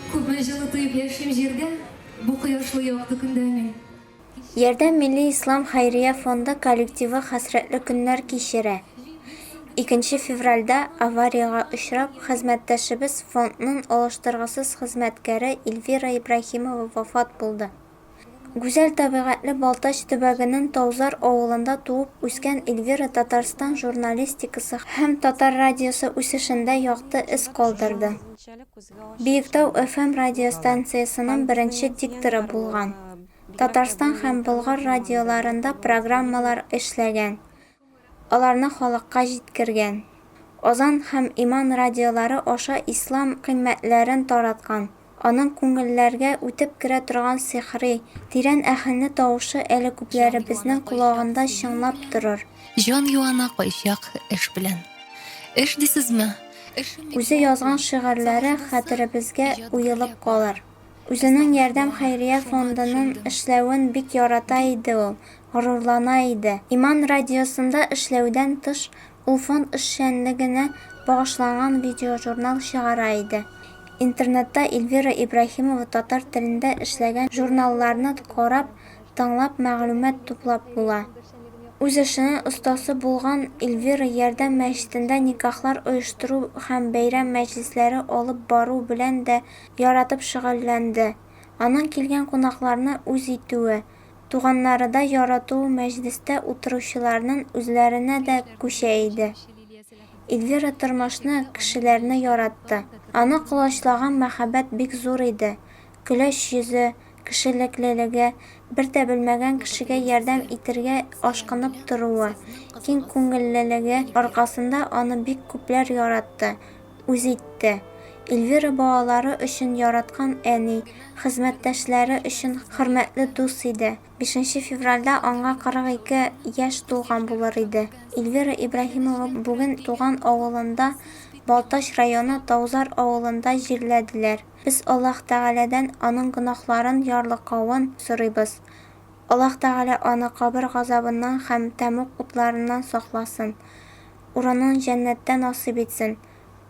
Күпме җылы тоеп яшим җирдә, Бу кояшлы якты көндә мин. Ярдәм милли ислам хәйрия фонды коллективы хәсрәтле көннәр кичерә. Икенче февральдә авариягә очрап, хезмәттәшебез, фондның алыштыргысыз хезмәткәре Эльвира Ибраһимова вафат булды. Гүзәл табигатьле Балтач төбәгенең Таузар авылында туып үскән Эльвира Татарстан журналистикасы һәм Татар радиосы үсешендә якты эз калдырды. Биектау FM радиостанциясенең беренче дикторы булган, Татарстан һәм Болгар радиоларында программалар эшләгән, Аларны халыкка җиткергән. Азан һәм иман радиолары аша ислам кыйммәтләрен тараткан. Аның күңелләргә үтеп керә торган сихри, тирән әһәңле тавышы әле күпләребезнең колагында чыңлап торыр. Җан юана кайчак эш белән. Эш дисезме? Эшем бик мул. Үзе язган шигырьләре хәтеребезгә уелып калыр. Үзенең Ярдәм хәйрия фондының эшләвен бик ярата иде ул, горурлана иде. Иман радиосында эшләүдән тыш, ул фонд эшчәнлегенә багышланган видеожурнал чыгара иде. Интернетта Эльвира Ибраһимова татар телендә эшләгән журналларны карап, тыңлап мәгълүмат туплап була. Үз эшенең остасы булган Эльвира Ярдәм мәчетендә никахлар оештыру һәм бәйрәм мәҗлесләре алып бару белән дә яратып шөгыльләнде. Аның килгән кунакларны үз итүе, туганнарыдай яратуы мәҗлестә утыручыларнын үзләренә дә күчә иде. Ильвира тормышны, кешеләрне яратты. Аны колачлаган мәхәббәт бик зур иде. Көләч йөзе, кешелеклелеге, бер дә белмәгән кешегә ярдәм итергә ашкынып торуы, киң күңеллелеге аркасында аны бик күпләр яратты, үз итте. Эльвира балалары өчен яраткан әни, хезмәттәшләре өчен хөрмәтле дус иде. Бишенче февральдә аңа 42 яшь тулган булыр иде. Эльвира Ибраһимова бүген туган авылында, Балтач районы Таузар авылында җирләделәр. Без Аллаһ Тәгаләдән аның гөнаһларын ярлыкавын сорыйбыз. Аллаһ Тәгалә аны кабер газабыннан һәм тәмуг утларыннан сакласын. урынын җәннәттә насыйп итсен,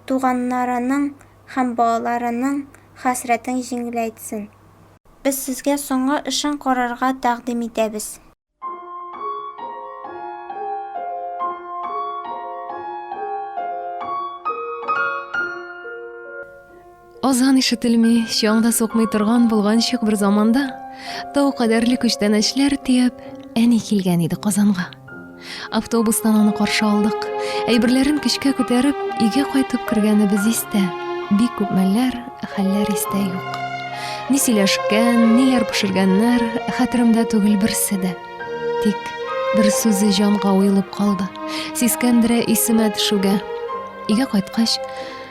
туганнарының һәм балаларының хәсрәтең җиңеләйтсен. Без сезгә соңгы эшен карарга тәкъдим итәбез. Азан ишетелми, чаң да сукмый торган булганчык бер заманда тау кадәрле күчтәнәчләр төяп, әни килгән иде Казанга. Автобустан аны каршы алдык. Әйберләрен көчкә күтәреп, өйгә кайтып кергәнебез истә. Бик күп мәлләр, хәлләр истә юк. Ни сөйләшкән, ниләр пешергәннәр, хәтеремдә түгел берсе дә. Тик бер сүзе җанга уелып калды. Сискәндерә исемә төшүгә. Өйгә кайткач,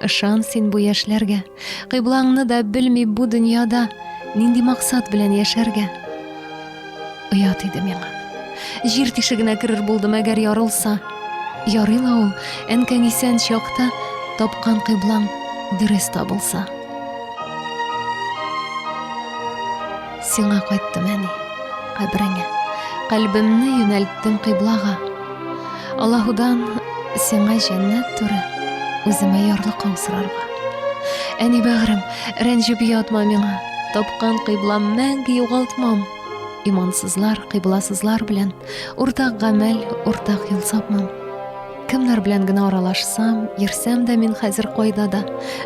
Ышан син бу яшьләргә, кыйблаңны да белми бу дөньяда нинди максат белән яшәргә. Оят иде миңа. Җир тишегенә керер булдым, әгәр ярылса. Ярый ла ул, әнкәң исән чакта тапкан кыйблаң дөрес табылса. Сиңа кайттым, әни, кабереңә. Калбымны юнәлттем кыйблага. Аллаһудан сиңа җәннәт туры, үземә ярлыкың сорарга. Әни бәгърем, рәнҗеп ятма миңа. Тапкан кыйблам мәңге югалтмам. Имансызлар, кыйбласызлар белән уртак гамәл, уртак юл сапмам. Кемнәр белән генә аралашсам, йөрсәм дә мин хәзер кайда да,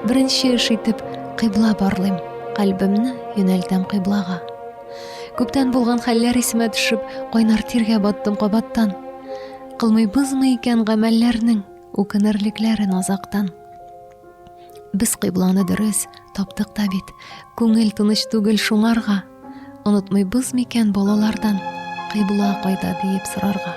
беренче эш итеп кыйбла барлыйм. Калбымны юнәлтәм кыйблага. Күптән булган хәлләр исемә төшеп, кайнар тиргә баттым кабаттан. Кылмый бызмы икән гамәлләрнең үкенерлекләрен азактан. Без кыйбланы дөрес таптык та бит. Күңел тыныч түгел шуңарга. Онытмый быз микән балалардан кыйбла кайда диеп сорарга.